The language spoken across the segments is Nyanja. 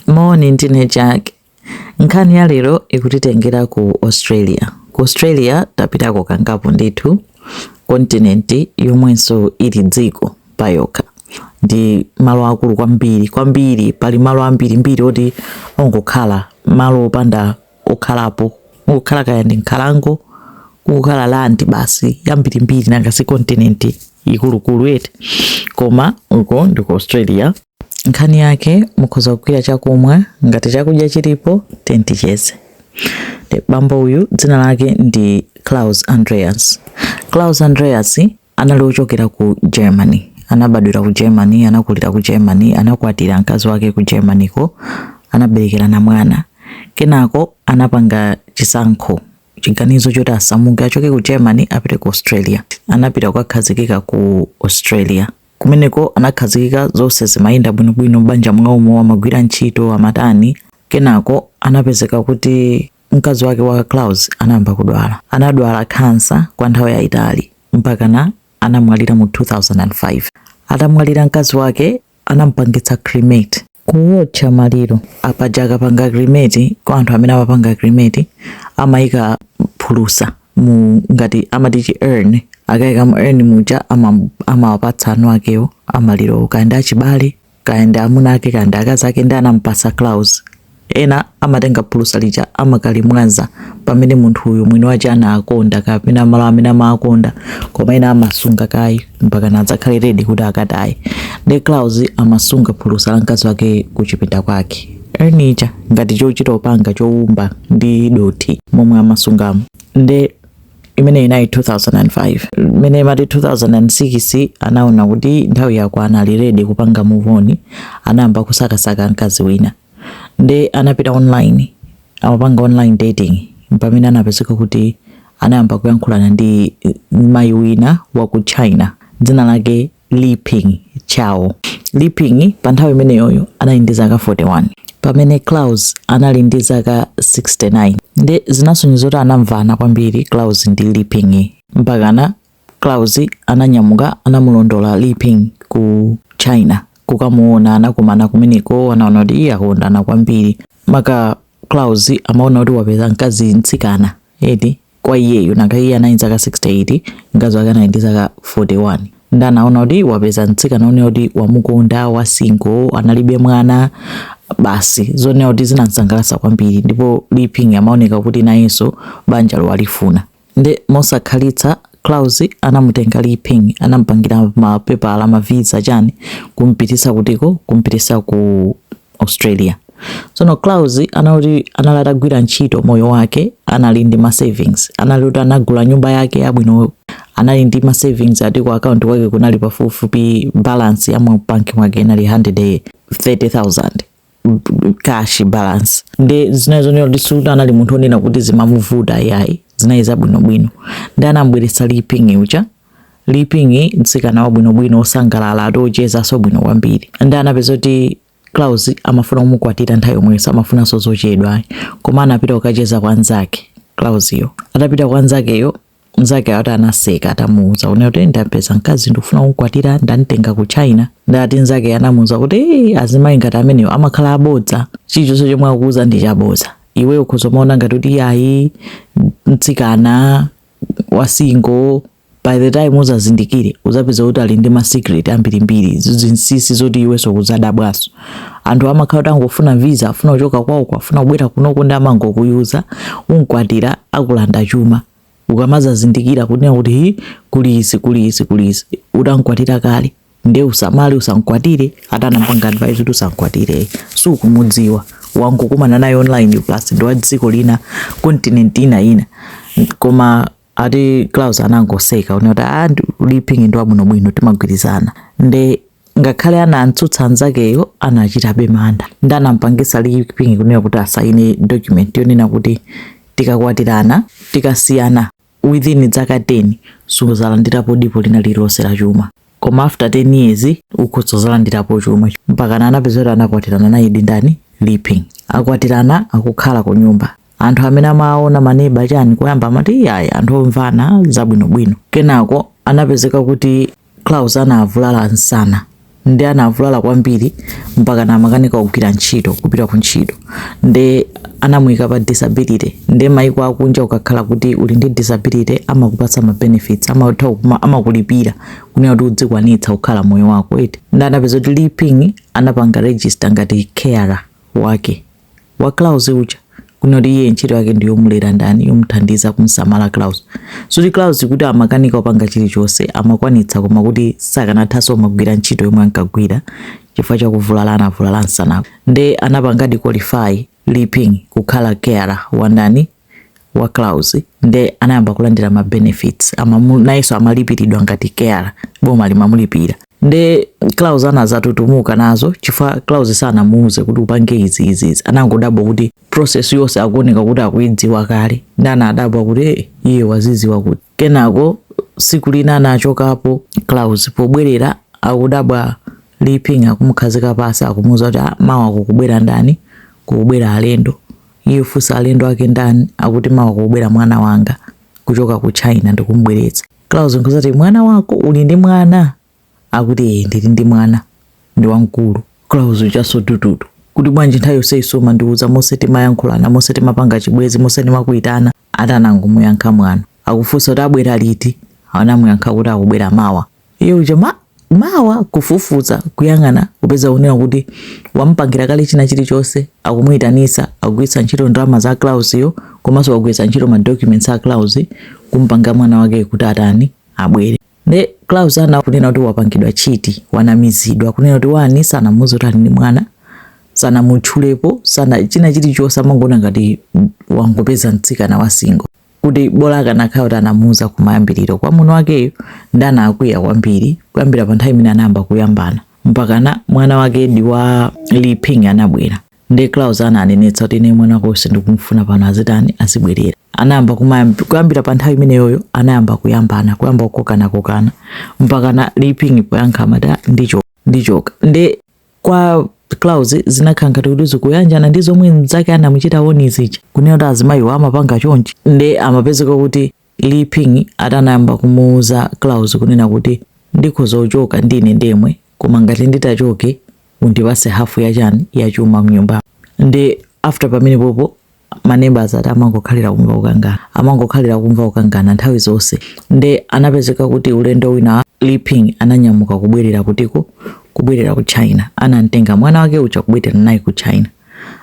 Moni, ndine Jack. Nkhani ya lero ikutitengera ku Australia. Ku Australia tapitako kangapo ndithu, kontinenti yomwenso ili dziko pa yokha. Ndi malo akulu kwambiri kwambiri, pali malo ambirimbiri oti ongokhala malo opanda kukhalapo kukhala kaya ndi nkhalango kukhala landi basi yambirimbiri nanga si kontinenti ikuluikulu eti koma uko ndi ku australia nkhani yake mukhoza kugwira chakumwa ngati chakudya chilipo tenticheze bambo uyu dzina lake ndi claus andreas claus andreas anali ochokera ku Germany. Anabadwira ku Germany, anakulira ku Germany, anakwatira mkazi wake ku Germany ko, anaberekerana mwana. Kenako anapanga chisankho chiganizo choti asamuke achoke ku Germany apite ku Australia. Anapita kukakhazikika ku Australia. Kumeneko anakhazikika zonse zimayenda bwinobwino m'banja mwawomo, amagwira ntchito, amatani. Kenako anapezeka kuti Mkazi wake wa Klaus anayamba kudwala. Anadwala khansa kwa nthawi yayitali mpakana anamwalira mu 2005. Atamwalira mkazi wake anampangitsa cremate, kuwotcha maliro. Apaja akapanga cremate kwa anthu amene amapanga cremate amayika phulusa mu ngati amati chi urn akayika mu urn muja amawapatsa eni akewo amalirowo kaya ndi achibale kaya ndi amuna ake kaya ndi akazi ake nde anampasa Klaus ena amatenga phulusa lija amakalimwaza pamene munthu uyu mwini wake ankakonda kapena malo amene amakonda koma ena amasunga kaye mpakana adzakhale redi kuti akataye nde Klaus amasunga phulusa la mkazi wake kuchipinda kwake urn ija ngati chochita kupanga chowumba ndi dothi momwe amasungamo nde imene inali 2005 mmene imati 2006 anaona kuti nthawi yakwana ali ready kupanga move on anayamba kusakasaka mkazi wina nde anapita online amapanga online dating pamene anapezeka kuti anayamba kuyankhulana ndi mayi wina wa ku china dzina lake Li Ping Chao. Li Ping pa nthawi imeneyoyo anali ndi zaka 41 pamene Klaus anali ndi zaka 69 nde zinasonyeza kuti anamvana kwambiri Klaus ndi Li Ping mpakana Klaus ananyamuka anamulondola Li Ping ku China kukamuona anakumana kumeneko anaona kuti ee akondana kwambiri maka Klaus amaona kuti wapeza mkazi mtsikana eti kwa iyeyo nanga iye anali ndi zaka 68 mkazi wake anali ndi zaka 41 nde anaona kuti wapeza mtsikana woneka kuti wamukonda wa single analibe mwana basi zoneka kuti zinamsangalatsa kwambiri ndipo Li Ping amaoneka kuti nayenso banja lo walifuna nde mosakhalitsa Klaus anamutenga Li Ping anampangira mapepala mavisa chani kumpitisa kutiko kumpitisa ku Australia. Tsono Klaus anali anali atagwira ntchito moyo wake anali ndi ma savings. Anali kuti anagula nyumba yake yabwino anali ndi ma savings ati ku account kwake kunali pafupifupi balance ya mu bank mwake inali 130,000 cash balance nde zinali zonena kuti sikuti anali munthu onena kuti zimamuvuta yayi zinali zabwinobwino nde anambweretsa Li Ping uja Li Ping, mtsikana wabwinobwino, wosangalala, ati wochezanso bwino kwambiri, ndiye anapeza kuti Klaus amafuna kumukwatira nthawi yomweyo, samafunanso zochedwa ayi. Koma anapita kukacheza kwa mnzake Klausyo. Atapita kwa mnzakeyo, mnzake ati anaseka atamuuza kunena kuti ndampeza mkazi ndikufuna kumukwatira, ndamtenga ku China. Ndiye ati mnzake anamuuza kuti ee, azimayi ngati amenewo amakhala abodza, chilichonse chomwe akukuuza ndi chabodza. Iweyo ukhoza kumaona ngati kuti ayi mtsikana wa single by the time uzazindikire uzapeza kuti ali ndi ma secret ambirimbiri zinsisi zoti iwenso kuzadabwaso anthu amakhala kuti angofuna visa afuna kuchoka kwawoko afuna kubwera kunoko nde amangokuyuza unkwatira akulanda chuma ukamazazindikira kunena kuti hi kuli izi kuli izi kuli izi utankwatira kale nde usamale usankwatire ati anampanga advise kuti usankwatire sukumudziwa wangokumana naye online plus ndi wa dziko lina continent ina ina koma ati Klaus anangoseka kunena kuti ah Li Ping ndi wabwinobwino timagwirizana nde ngakhale anamtsutsa anzakeyo anachitabe mantha nde anampangisa Li Ping kunena kuti asaine document yonena kuti tikakwatirana tikasiyana within dzaka 10 suzalandirapo dipo lina lililonse la chuma koma after 10 years ukhoza kuzalandirapo chuma mpakana anapezeka kuti anakwatirana nayedi ndani Li Ping akwatirana akukhala ku nyumba anthu amene amaona maneba chani koyamba amati iyayi anthu omvana zabwinobwino kenako anapezeka kuti Klaus anavulala msana nde anavulala kwambiri mpakana amakanika kugwira ntchito kupita ku ntchito nde anamuyika pa disability nde maiko akunja ukakhala kuti uli ndi disability amakupatsa ma benefits amatha kuma- amakulipira kunena kuti udzikwanitsa kukhala moyo wako eti nde anapeza kuti Li Ping anapanga register ngati carer wake wa Klaus uja kunena kuti iye ntchito yake ndi yomulera ndani yomuthandiza kumsamala Klaus sikuti Klaus kuti amakanika kupanga chilichonse amakwanitsa koma kuti sakanathanso kumagwira ntchito yomwe ankagwira chifukwa chakuvulala anavulala msanako nde anapangadi qualify Li Ping kukhala carer wa ndani wa Klaus nde anayamba kulandira ma benefits amamu nayenso amalipiridwa ngati carer boma limamulipira nde Klaus anazatutumuka nazo chifukwa Klaus sanamuuze kuti upange izi izi izi anangodabwa kuti process yonse akuoneka kuti akuidziwa kale nde anadabwa kuti hey, eh, iye wazidziwa kuti kenako siku lina anachokapo Klaus pobwerera akudabwa Li Ping akumukhazika pasi akumuuza kuti ah, mawa kukubwera ndani kukubwera alendo Iye kufunsa alendo ake ndani akuti mawa kukubwera mwana wanga kuchoka ku China ndikumubweretsa. Klaus nkudzati mwana wako uli ndi mwana? Akuti ee ndili ndi mwana ndi wamkulu. Klaus ujaso tututu kuti bwanji nthawi yonseyi sumandiuza monse timayankhulana monse timapanga chibwenzi monse ndimakuitana. Ati anangomuyankha mwano. Akufunsa kuti abwera liti? Anamuyankha kuti akubwera mawa. Iye uja mmawa kufufuza kuyang'ana kupeza kunena kuti wamupangira kale china chilichonse akumuyitanisa akugwiritsa ntchito ndalama za Klausyo komanso akugwiritsa ntchito ma documents a Klaus kumpanga mwana wake kuti atani abwere. nde Klaus anaona kunena kuti wapangidwa cheat wanamizidwa kunena kuti one sanamuuze kuti ali ndi mwana sanamutchulepo sana china chilichonse amangoona ngati wangopeza mtsikana wa single kuti bola akanakhala kuti anamuuza kumayambiriro kwa mwamuna wakeyo nde anakwiya kwambiri kuyambira pa nthawi imene anayamba kuyambana mpakana mwana wake wa Li Ping anabwera Ndiye Klaus ananenetsa kuti ine mwana wako sindikumufuna pano azitani azibwerera. Anayamba kuyambira pa nthawi imeneyoyo anayamba kuyambana kuyamba kukokana kokana mpakana Li Ping poyankha amati "Ah, ndichoka ndichoka. Nde kwa Klaus zinakhala ngati kuti zikuyanjana ndi zomwe mnzake anamuchita warn zija kunena kuti azimayiwo amapanga chonchi nde amapezeka kuti Li Ping ati anayamba kumuuza Klaus kunena kuti ndikhoza kuchoka ndine ndemwe koma ngati nditachoke undipatse half ya chani ya chuma mnyumba nde after pamene popo ma neighbors ati amangokhalira kumva kukangana amangokhalira kumva kukangana nthawi zonse nde anapezeka kuti ulendo wina Li Ping ananyamuka kubwerera kutiko kubwerera ku China anamtenga mwana wake uja kubwerera naye ku China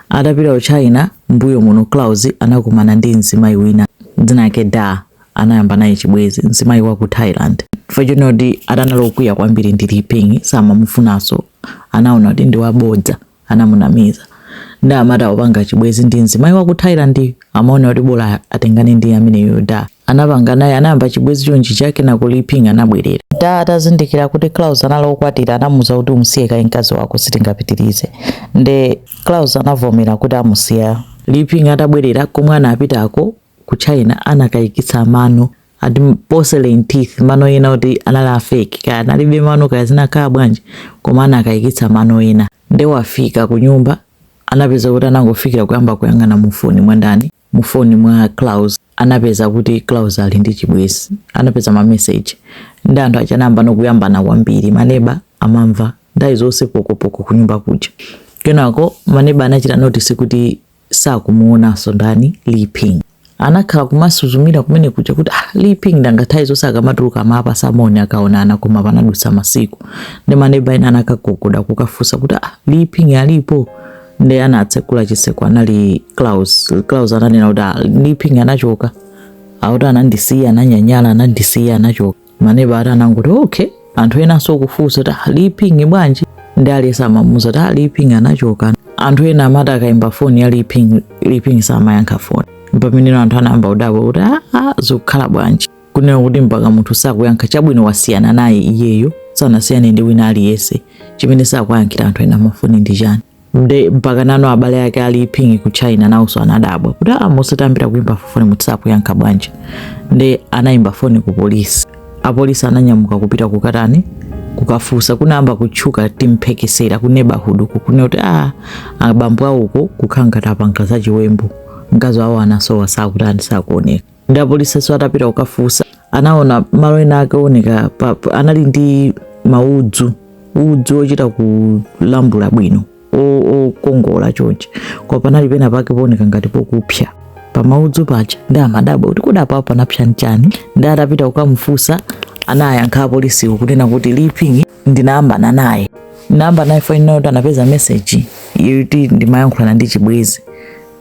Atapita ku China, m'mbuyo muno Klaus anakumana ndi mzimayi wina dzina lake Da. Anayamba naye chibwenzi mzimayi wa ku Thailand. Chifukwa chonena kuti ati anali okwiya kwambiri ndi Li Ping samamufunanso, anaona kuti ndi wabodza, anamunamiza. Nde amati popanga chibwenzi ndi mzimayi wa ku Thailand, amaona kuti bola atengane ndi ameneyo Da. anapanga naye anayamba chibwezi chonchicho kenako li ping anabwerera da atazindikira kuti klaus anali okwatira anamuuza kuti umsiye kaye mkazi wako sitingapitirize nde klaus anavomera kuti amusiya li ping atabwerera komwe anapitako ku china anakayikitsa mano ati porcelain teeth mano enaake oti anali a fake kaya analibe mano kaya zinakhala bwanji koma anakayikitsa mano ena nde wafika ku nyumba anapeza kuti anangofikira kuyamba kuyang'ana mufoni mwandani mu phone mwa Klaus anapeza kuti Klaus ali ndi chibwezi anapeza ma message ndi anthu aja anayamba no kuyambana kwambiri maneba amamva nthawi zonse pokopoko kunyumba kuja kenako maneba anachita notice kuti sakumuonanso ndani Li Ping anakhala kumasuzumira kumeneko kuja kuti ah, Li Ping ngati nthawi zonse akamatuluka amapatsana moni akaonana koma panadutsa masiku ndi neba wina anakagogoda kukafunsa kuti ah, Li Ping alipo nde anatsegula chiseko anali Klaus Klaus ananena kuti ah, Liping anachoka akuti anandisiya ananyanyala anandisiya anachoka maneba anangoti okay anthu enanso okufunsa kuti ah, Liping bwanji nde aliyense amamuza kuti ah, Liping anachoka anthu ena amati akaimba foni ya Liping Liping samayankha foni pamenepo anthu anayamba kudabwa kuti aa zikukhala bwanji kunena kuti mpaka munthu sakuyankha chabwino wasiyana naye iyeyo sanasiyane ndi wina aliyense chimene sakuyankhira anthu ena mafoni ndi chani nde mpakana no abale ake a Li Ping ku china nawonso anadabwa kuti a ah, munthu tamuimbira kuimba foni munthu sakuyankha bwanji nde anayimba foni ku polisi apolisi ananyamuka kupita kukatani kukafunsa kunayamba kutchuka timphekesera ku neighborhood uku kunena kuti a ah, abambo awo uko kukhala ngati apanga za chiwembu mkazi wawo anasowa sakutani sakuoneka nde apolisinso atapita kukafunsa anaona malo ena ake oneka anali ndi maudzu udzu ochita kulambula bwino okongola chonchi koma panali pena pake pooneka ngati pokupsa pamaudzu paja nde amadabwa kuti kodi apapo panapsa nchani nde atapita kukamufunsa anayankha apolisiwo kunena kuti liping ndinayambana naye ndinayambana naye fine kuti anapeza message yoti ndimayankhulana ndi chibwezi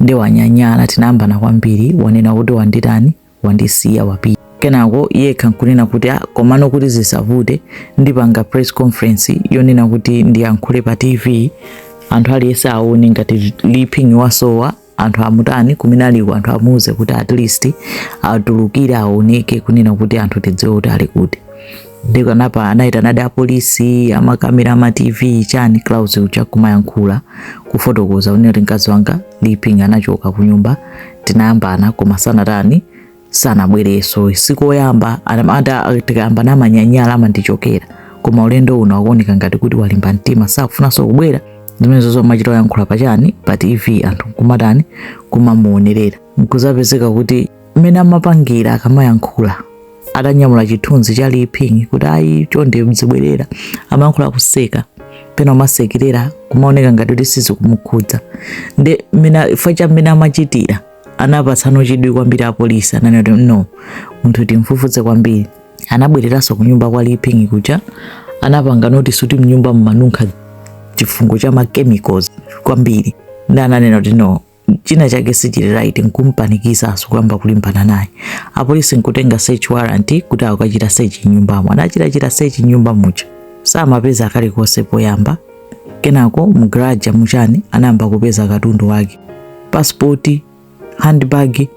nde wanyanyala tinayambana kwambiri wanena kuti wanditani wandisiya wapita kenako yekha nkunena kuti ah, komano kuti zisavute ndipanga press conference yonena kuti ndiyankhule pa tv anthu aliyense aone ngati liping wasowa anthu amutani kumene aliko anthu amuuze kuti at least atulukire aoneke kunena kuti anthu tidziwe kuti ali kuti nde anapita anayitanadi apolisi amakamera ama tv chani Klaus uja kumayankhula kufotokoza kunena kuti mkazi wanga liping anachoka kunyumba tinayambana koma sanatani sanabwerenso sikoyamba tikayambana amanyanyala amandichokera koma ulendo uno akuoneka ngati kuti walimba mtima sakufunanso kubwera zimenezo amachita oyankhula pachani pa tv anthu nkumatani kumamuonerera nkuzapezeka kuti mmene amapangira akamayankhula atanyamula chithunzi cha liping kuti ayi chonde mzibwerera amayankhula akuseka pena kumasekerera kumaoneka ngati kuti sizikumukhudza nde mmene ifa cha mmene amachitira anapatsano chidwi kwambiri apolisi ananena kuti no munthu timfufuze kwambiri anabwereranso kunyumba kwa liping kuja anapanga notice kuti mnyumba mmanunkha chifungo cha machemicals kwambiri ndi ananena kuti no china chake sichili right nkumpanikiza asukuyamba kulimbana naye apolisi kutenga search warrant kuti akachite search nyumbamo anachita search nyumba muja samapeza kalikonse poyamba kenako mgaraja muja anayamba kupeza katundu wake pasipoti handbag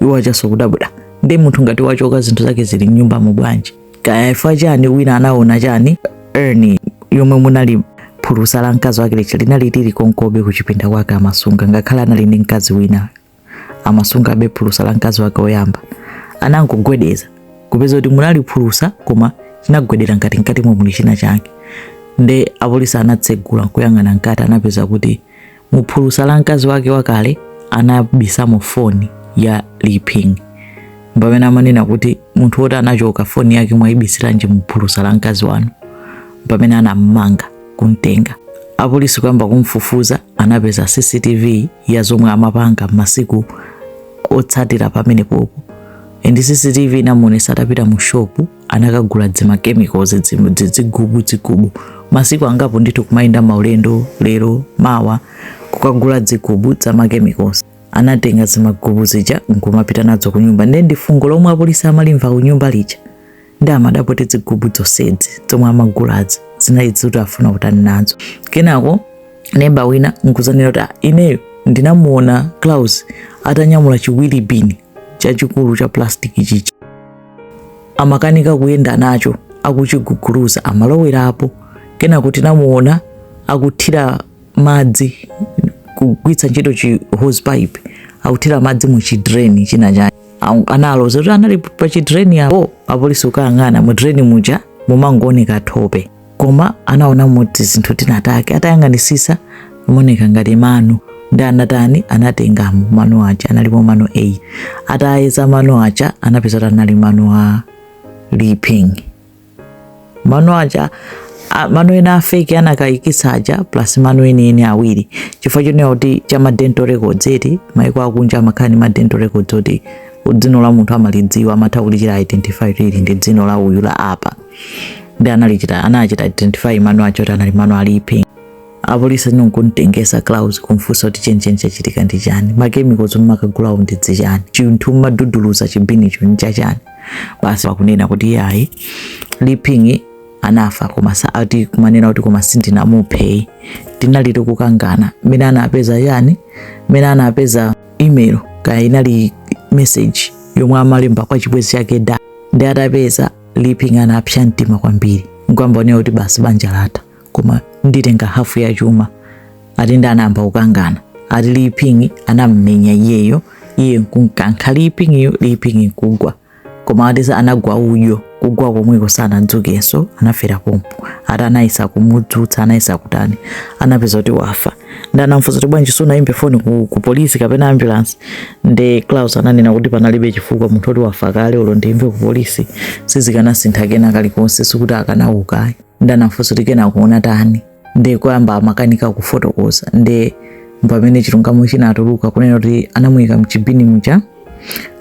iwo ajanso kudabwa nde munthu ngati wachoka zinthu zake zili mnyumba mu bwanji kaya ifa chani wina anaona chani urn yomwe munali phulusa la mkazi wake lija linali lili konkobe kuchipinda kwake amasunga ngakhale anali ndi mkazi wina amasungabe phulusa la mkazi wake woyamba anangogwedeza kupeza kuti munali phulusa koma chimagwedera ngati mkati mwamo muli china chake nde apolisi anatsegula kuyang'ana mkati anapeza kuti muphulusa la mkazi wake wakale anabisamo foni ya liping pamene amanena kuti munthu woti anachoka foni yake mwayibisiranji muphulusa la mkazi wanu pamene anammanga kumtenga apolisi kuyamba kumfufuza anapeza cctv ya zomwe amapanga masiku otsatira pamenepopo and CCTV inamuonetsa atapita mu shopu anakagula dzima chemicals dzigubu dzigubu masiku angapo ndithu kumayenda maulendo lero mawa kukagula dzigubu dza ma chemicals anatenga zimagubu zija nkumapita nadzo kunyumba ndiye ndifungo lomwe apolisi amalimva kunyumba lija nde amadabwa kuti dzigubu zonsezi zomwe amagulazi zinali zoti afuna kutani nazo kenako neba wina nkuzanena kuti ah, ineyo ndinamuona claus atanyamula chi wheelie bin chachikulu cha plastic chichi amakanika kuyenda nacho akuchiguguluza amalowera apo kenako tinamuona akuthira madzi kugwiritsa ntchito chi hose pipe akuthira madzi mu chi drain china chake analoza kuti anali pa chi drain apo apolisi kukayang'ana mu drain muja mumangooneka thope koma anaona muli tizinthu tinatake atayang'anisisa amaoneka ngati mano ndi anatani anatengamo mano aja analipo mano 8 atayeza mano aja anapeza kuti anali mano a liping mano aja mano ena a fake anakayikitsa aja plus mano enieni awiri chifukwa chonena kuti cha ma dental records eti maiko akunja amakhala ndi ma dental records oti dzino la munthu amalidziwa amatha kulichita identify ili ndi dzino la uyu la apa ndi analichita anachita identify mano aja kuti anali mano a liping apolisi anonkuntengesa claus kumfunsa kuti chenicheni chachitika ndi chani ma chemicals mmakagulawo ndi dzichani chinthu mmaguguluza chibinicho nchachani basi akunena kuti iyayi Li Ping anafa koma sati kumanena kuti koma sindinamuphe tinali tikukangana mmene anapeza yani mmene anapeza email kaya inali message yomwe amalemba kwa chibwezi chake Da ndi atapeza Li Ping anapsa mtima kwambiri nkuyamba kuonera kuti basi banja latha koma nditenga hafu ya chuma ati ndi anayamba kukangana ati Li Ping anam'menya iyeyo iye nkumkankha Li Ping-yo Li Ping nkugwa koma ati za anagwa udyo kugwa komweko sanadzukenso anafera pompo ati anayesa kumudzutsa anayesa kutani anapeza kuti wafa ndi anamfunsa kuti bwanji sunayimbe foni ku, ku polisi kapena ambulance ndi Klaus ananena kuti panalibe chifukwa munthu oti wafa kale olo ndiyimbe ku polisi sizikanasintha kena kalikonse sikuti akanauka nde anamfunsa kuti kenako unatani nde koyamba amakanika kufotokoza nde pamene chilungamo chinatuluka kunena kuti anamuyika mchibini muja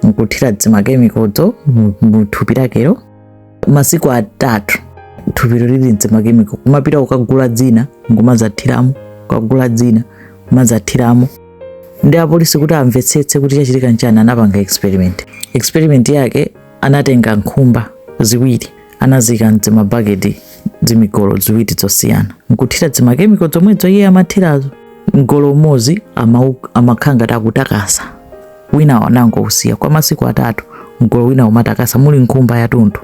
nkuthira dzimakemikozo muthupi lakelo masiku atatu thupilo lili mdzimakemiko kumapita kukagula dzina nkumazathiramo kukagula dzina kumazathiramo ndi apolisi kuti amvetsetse kuti chachitika nchani anapanga experiment experiment yake anatenga nkhumba ziwiri anaziika mdzimabaketi dzimigolo ziwiri zosiyana nkuthira dzimakemiko zomwezo iye amathirazo mgolo umodzi amakhala ngati akutakasa wina anangousiya kwa masiku atatu mgolo wina kumatakasa muli nkhumba yatunthu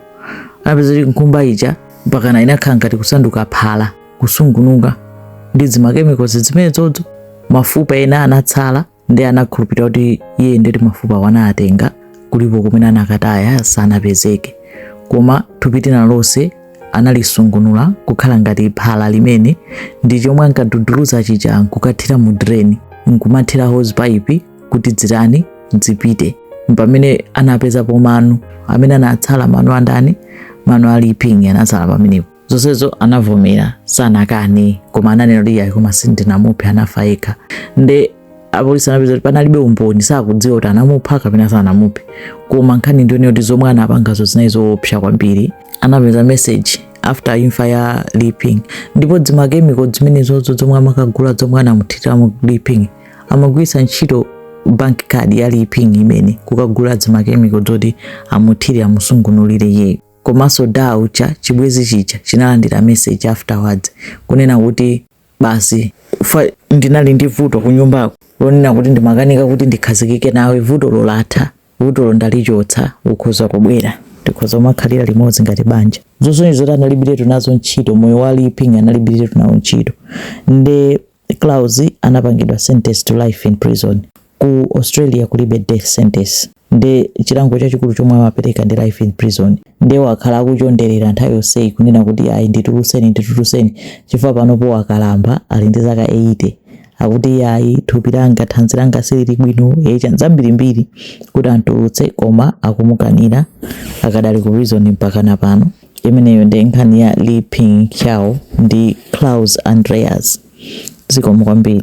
anapeza kuti nkhumba ija mpakana inakhala ngati kusanduka phala kusungunuka ndi dzimakemikozi zimenezozo mafupa ena anatsala ndi anakhulupirira kuti iye nde kuti mafupawo anatenga kulipo kumene anakataya sanapezeke koma thupi lina lonse analisungunula kukhala ngati phala limene ndi chomwe ankaduduluza chija nkukathira mu drain nkumathira hose pipe kuti dzitani dzipite pamene anapezapo mano amene anatsala mano andani mano a Li Ping anatsala pamenepo zonsezo anavomera sanakane koma ananena kuti iyayi koma sindinamuphe anafa yekha nde apolisi anapeza kuti panalibe umboni sakudziwa kuti anamupha kapena sanamuphe koma nkhani ndi yonena kuti zomwe anapangazo zinali zoopsa kwambiri anapeza message after imfa ya Li Ping ndipo dzimakemiko zimenezozo zomwe amakagula zomwe anamuthiramo Li Ping amagwiritsa ntchito bank card ya Li Ping yemwe kukagula dzimakemiko zoti amuthire amusungunulire iyeyo komanso Da uja chibwezi chija chinalandira message afterwards kunena kuti basi ndinali ndi vuto kunyumbako lonena kuti ndimakanika kuti ndikhazikike nawe vutolo latha vutolo ndalichotsa ukhoza kubwera tikhoza kumakhalira limodzi ngati banja zosonyeza kuti analibiretu nazo ntchito moyo wa Li Ping analibiretu nawo ntchito nde Klaus anapangidwa sentence to life in prison. Ku Australia kulibe death sentence. Nde chilango chachikulu chomwe amapereka ndi life in prison. Nde wakhala akuchonderera nthawi yonseyi kunena kuti ayi ndituluseni ndituluseni chifukwa panopo wakalamba ali ndi zaka 80 akuti iye ayi thupi langa thanzi langa silili bwino ee chani zambirimbiri kuti antulutse koma akumukanira akadali ku prison mpaka na pano Imeneyo nde nkhani ya Li Ping Cao ndi Klaus Andreas. Zikomo kwambiri.